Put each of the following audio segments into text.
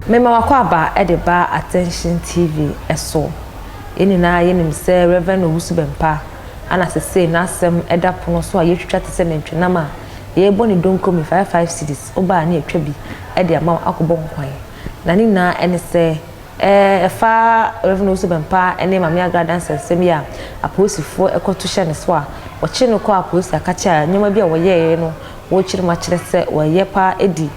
Mema w'akwaaba de ba Attention TV so. Yɛn nyinaa yɛnim sɛ Rev. Owusu Bɛmpa na sesei n'asɛm da pono so a yɛretwitwa te sɛ nantwinam a yɛrebɔ ne donko me five five cedis, wo ba a ne yɛtwa bi de ama wo akɔbɔ nkwan. Na ne nyinaa ne sɛ. Ɛfa Rev. Owusu Bɛmpa ne Maame Agra adansɛnsɛm yi a apolisifo kɔto hyɛɛ ne so a wɔkyeree no kɔɔ apolisii a ɛka kyerɛ a nneɛma bi a wɔyɛe no wɔrekyere mu akyerɛ sɛ wɔreyɛ paa adi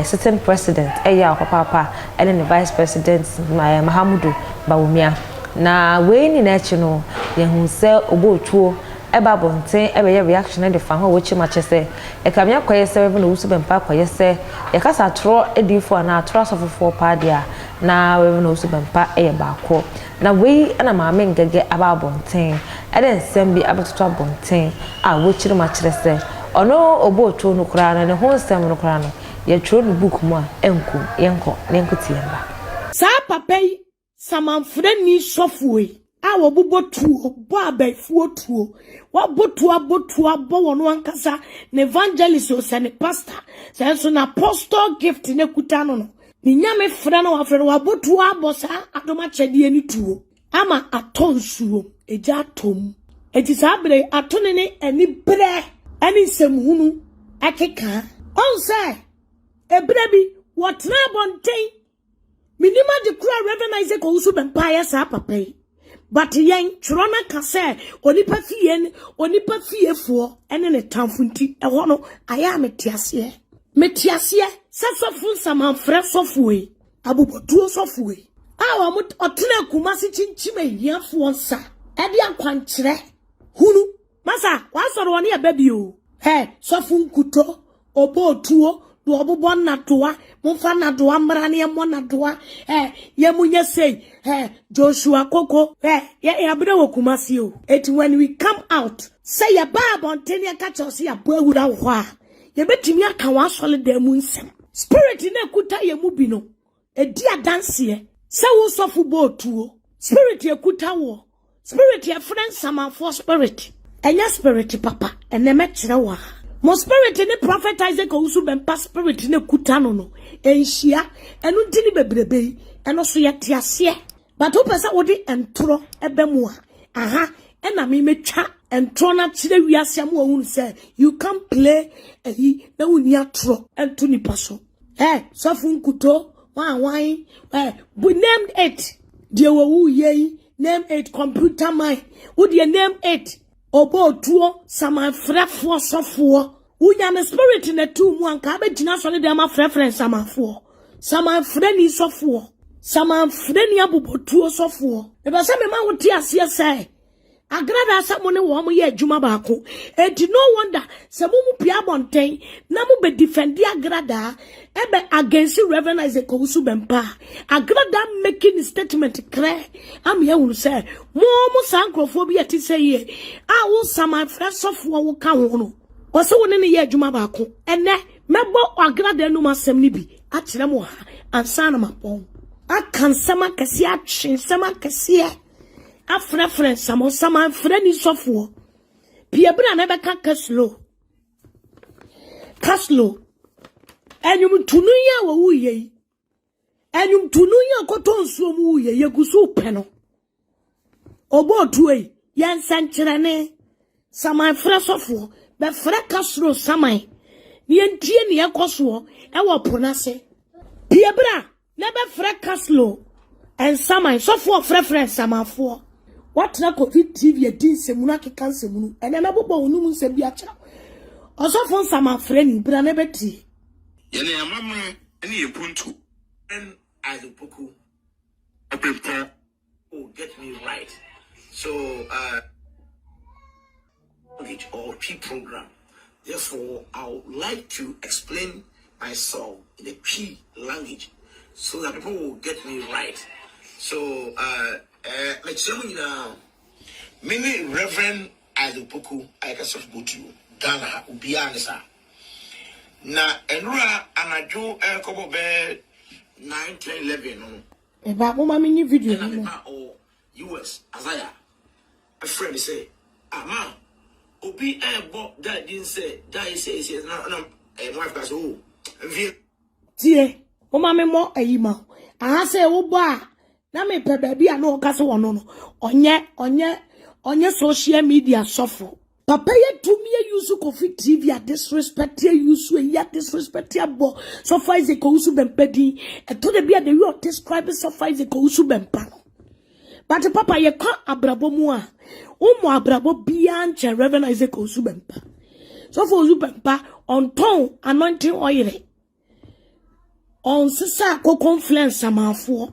sitting president yaw papaapa ne ne vice president Mahamudu Bawumia. Na wei nyinaa akyi no yɛahu sɛ ɔbɔɔ tuo ba abɔnten bɛyɛ reaction de fa ho a wɔrekyere mu akyerɛ sɛ Ɛka me akɔyɛ sɛ Rev. Owusu Bɛmpa akɔyɛ sɛ yɛ kasa atorɔ adiyifoɔ anaa atorɔ asɔfofoɔ paa deɛ a, na Rev. Owusu Bɛmpa yɛ baako. Na wei na Maame Ngɛgɛ aba abɔnten de nsɛm bi abɛtoto abɔnten a wakyiri mu akyerɛ sɛ ɔno ɔbɔɔ tuo no koraa no ne ho nsɛm no koraa no yɛtwerɛ no book mu a ɛnkum, yɛnkɔ na yɛnkɔti yɛn ba. Saa papa yi Samanfrani sɔfoɔ yi a wɔbobɔ tuo, bɔ abɛɛfoɔ tuo, wɔabɔ tuo abɔ tuo abɔ wɔn ankasa ne evangelist o sɛ ne pastor sɛ nso na apostle gift na kuta no no ne nyame frɛ na wafrɛ no wɔabɔ tuo abɔ saa adom akyɛdeɛ ne tuo ama atɔ nsuo egya atɔ mu enti saa berɛ ato ne ne ani berɛ ɛne nsɛmhunu ɛkeka ɔn sɛ ebere bi wɔtena abɔnten Menim ade koro a Rev. Isaac Owusu Bɛmpaa yɛ saa papa yi. But yɛn twerɛ no ka sɛ onipa fie ne onipa fiefoɔ ne ne tamfo nti ɛhɔ no ayɛ a mete aseɛ. Mete aseɛ sɛ sɔfo nsamanfrɛ sɔfoɔ yi, abobɔtuo sɔfoɔ yi a wɔtena Kumasi kyinkyim ahiafoɔ nsa de akwankyerɛ hunu Masa, w'asɔre hɔ no yɛ bɛ bi o. Hɛ, sɔfo Nkuto, ɔbɔ otuo, na ɔbobɔ nnadoa, momfa nnadoa mmra na yɛmmɔ nnadoa, hɛ, yɛ mo nyɛ sei, hɛ, Joshua Koko. Hɛ, yɛ yɛ abena wɔ Kumasi o, enti when we come out, sɛ yɛ ba abɔnten na yɛka kyerɛ wo sɛ yɛabɔ awura wo hɔ a, yɛbɛtumi aka w'asɔre dan mu nsɛm. Spirit no a ɛkuta yɛn mu bi no, Di adanseɛ sɛ wo sɔfo bɔɔ tuo. Spirit ɛkuta woɔ. Spirit ɛfrɛ nsamanfoɔ spirit. Ɛnyɛ spirit papa. Ɛnɛ mɛkyerɛ wo a mo spirit ne Prophet Isaac Owusu-Bempah spirit no ɛkuta no no ɛnhyia. Ɛno nti ne bebrebe yi. Ɛno so yɛte aseɛ. But wopɛ sɛ wode ntorɔ ɛba mu a, aha ɛna me mɛtwa ntorɔ no akyerɛ wiase ama wɔahunu sɛ you can't play ɛyi na wonni atorɔ nto nipa so. Eh, sɔfo nkuto, why, why, eh, but name it. Deɛ wɔwu yei, name it, computer man, wodeɛ name it. Ɔbɔ otuo, samanfrɛfoɔ sɔfoɔ. Wonya ne spirit na tu mu anka abɛgyina sɔre dɛm afrɛfrɛ nsamanfoɔ. Samanfrɛ ni sɔfoɔ. Samanfrɛ ni abobotuo sɔfoɔ. Mepɛ sɛ mema wote aseɛ sɛ Agrada sɛ mo ne wɔn yɛ adwuma baako. Enti no wonder sɛ mo mu pii abɔ ntɛn na mo bɛ defendi Agrada ɛbɛ against Rev. Isaac Owusu Bempah. Agrada making ne statement krɛ ama yɛahunu sɛ mo mo saa nkurɔfoɔ bi a ɛte sɛ yie a wo saman frɛ sɔfoɔ wo ka ho no, ɔsɛ wo ne ne yɛ adwuma baako. Ɛnnɛ, mɛbɔ Agrada anum asɛm no bi akyerɛ mo ha ansa na mabɔ ho. Aka nsɛm akɛseɛ, atwe nsɛm akɛseɛ. afrɛfrɛ nsamansaman mfrani sɔfoɔ pii ɛbɛna na ɛbɛka kaslo kaslo ɛnwomtoni yi a wɔwuiɛ yi ɛnwomtoni yi a ɔkɔtɔ nsuo mu wuiɛ yɛgu so pɛ no ɔbɔ otuo yi yɛ nsɛnkyerɛne samanfrɛ sɔfoɔ bɛfrɛ kaslo saman ne yɛntie ne ɛkɔ soɔ ɛwɔ po no ase pii ɛbɛna Ne bɛ frɛ Kaslo nsaman sɔfoɔ frɛfrɛ nsamanfoɔ. Watena covid TV adi nsɛmunu akeka nsɛmunu ɛnɛ na bobɔ wo nom nsɛm bi akyerɛ ɔsɔfo nsaman frɛni bra na bɛ tie. Yɛne yɛn amammerɛ ne yɛn mpuntuo. Ɔbɛn Adepoku, Ɔbempɔn, Oh get me right so uh, language or Twi program therefore I would like to explain myself in the Twi language so that people will get me right so uh, uh, mekyerɛ mu nyinaa mene Reverend Isaac Poku ayɛka sɛ fobotuo Ghana ha obiara ne saa na ɛnora anadwo ɛrekɔbɔ bɛɛ 9 10 11 no Me ba, mo ma me nye video bi mo. Ɛna me ba ɔwɔ US, Isaiah, ɛfrɛ me sɛ, ah ma, obi ɛɛbɔ Guy din sɛ Guy sɛ sɛ na na ɛyɛ wife ka sɛ o, ɛnfie. Tie, mo ma me mɔ ɛyi ma o. Aha sɛ wo bɔ a, na me pɛ baabi a na ɔka sɛ ɔno no, ɔnyɛ, ɔnyɛ, ɔnyɛ social media sɔfo. Papa yɛ tumi yɛ yusu kofi TV a disrespect yɛ yusu eyi a disrespect yɛ bɔ sɔfo Isaac Owusu Bɛmpa din. Ɛtɔ da bi a the way ɔ describe sɔfo Isaac Owusu Bɛmpa no. But papa yɛ kɔ abrabɔ mu a womɔ abrabɔ biara nkyɛn Reverend Isaac Owusu Bɛmpa. Sɔfo Owusu Bɛmpa ɔntɔn anointing oil. Ɔnsesa kokon frɛ nsamanfoɔ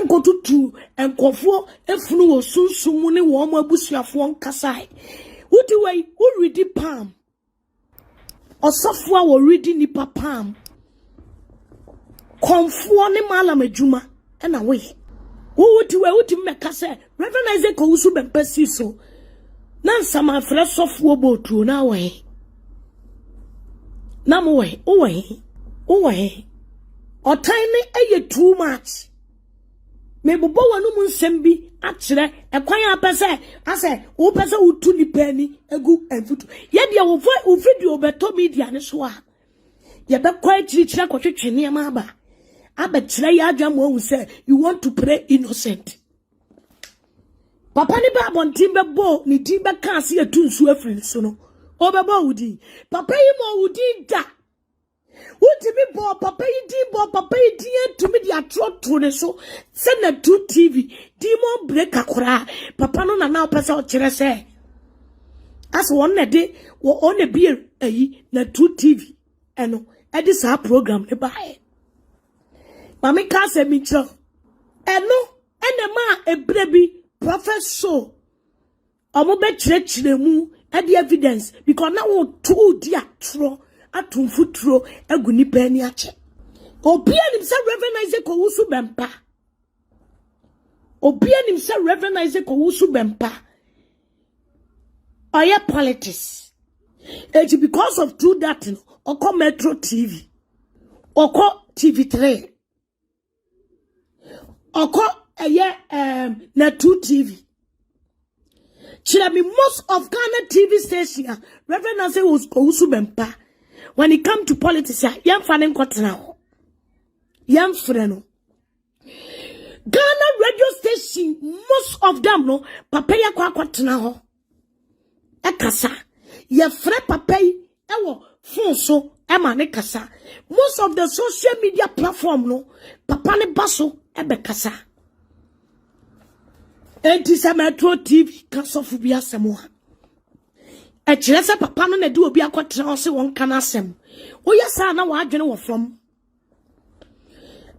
nkɔtutu nkurɔfoɔ funu wɔ sunsum mu ne wɔn abusuafoɔ nkasae. Wode wei woredi palm. Ɔsɔfoɔ a wɔredi nnipa palm. Kɔmfoɔ ne malam adwuma. ɛna woyɛ. Wowo ti wɔ wotumi bɛka sɛ Reverend Isaac Owusu Bɛmpa si so na nsamanfrɛ sɔfoɔ bɔ otuo na wɔ he na mo wɔ he wowɔ he wowɔ he ɔtan ne ɛyɛ too much mebobɔ w'anom nsɛm bi akyerɛ ɛkwan a pɛ sɛ asɛ wopɛ sɛ wotu nipa ani egu mfutu yɛdeɛ wo video bɛtɔ media ne so a Yɛbɛkɔ akyirikyiri akɔtwetwe nneɛma aba abɛkyerɛ yɛ adwene ma wɔahu sɛ you want to play innocent. Papa ne ba abɔnten bɛbɔ ne din bɛka ase yɛtu nsuo afiri ne so no, ɔbɛbɔ wo din. Papa yi ma wo din da. Wotumi bɔ papa yi din bɔ papa yi din atumi de atorɔ to ne so sɛ natu TV demon breaker koraa papa no na na ɔpɛ sɛ ɔkyerɛ sɛ Asɛ wɔn na ɛde wɔn na bie ayi na true tv ɛno ɛde saa program ne baayɛ maame ka asɛ mi kyerɛ ɛno ɛna ɛma ebire bi prophet show wɔn bɛ kyerɛkyerɛ mu ɛde evidence because na wɔn tu di atorɔ ato mfuturo agu nipa ani akyɛ obi anim sɛ reverend isaac owusu bɛmpa. Obiara nim sɛ Rev. Isaac Owusu Bɛmpa ɔyɛ politics. Eti because of two that no, ɔkɔ Metro TV, ɔkɔ TV3, ɔkɔ ɛyɛ um, Natu TV. Kyerɛ me most of Ghana TV station a Rev. Isaac Owusu Bɛmpa when it come to politics a yɛmfa ne nkɔtena hɔ. Yɛmfrɛ no. Ghana radio station most of them no papa yi akɔ akɔtena hɔ ɛkasa yɛfrɛ papa yi ɛwɔ phone so ɛma ne kasa most of the social media platform no papa ne ba so ɛbɛkasa enti sɛ metro tv ka sɔfo bi asɛm a ɛkyerɛ sɛ papa no na ɛde obi akɔtena hɔ sɛ wɔnka no asɛm woyɛ saa na wɔadwene wɔ fam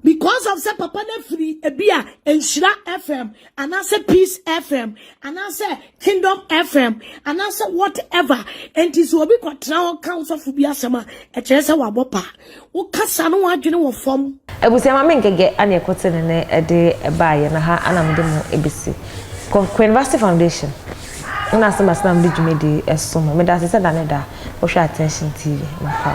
because of sɛ papa no afiri ebi a nhyira fm anaasɛ peace fm anaasɛ kingdom fm anaasɛ whatever nti sɛ obi kɔtena hɔ ka wosɔfo bi asɛm a ɛkyerɛ sɛ wabɔ pa wokasa no wadwene wɔ fam abusua ma me nkɛgɛ ane ɛkɔte ne ne ɛde ɛbaa yɛn ha ana mede mo ebesi Queen Vasti Foundation ɛna asɛm asɛm a mede dwumadi ɛso mo meda ase sɛ da ne da wohwɛ attention TV mafa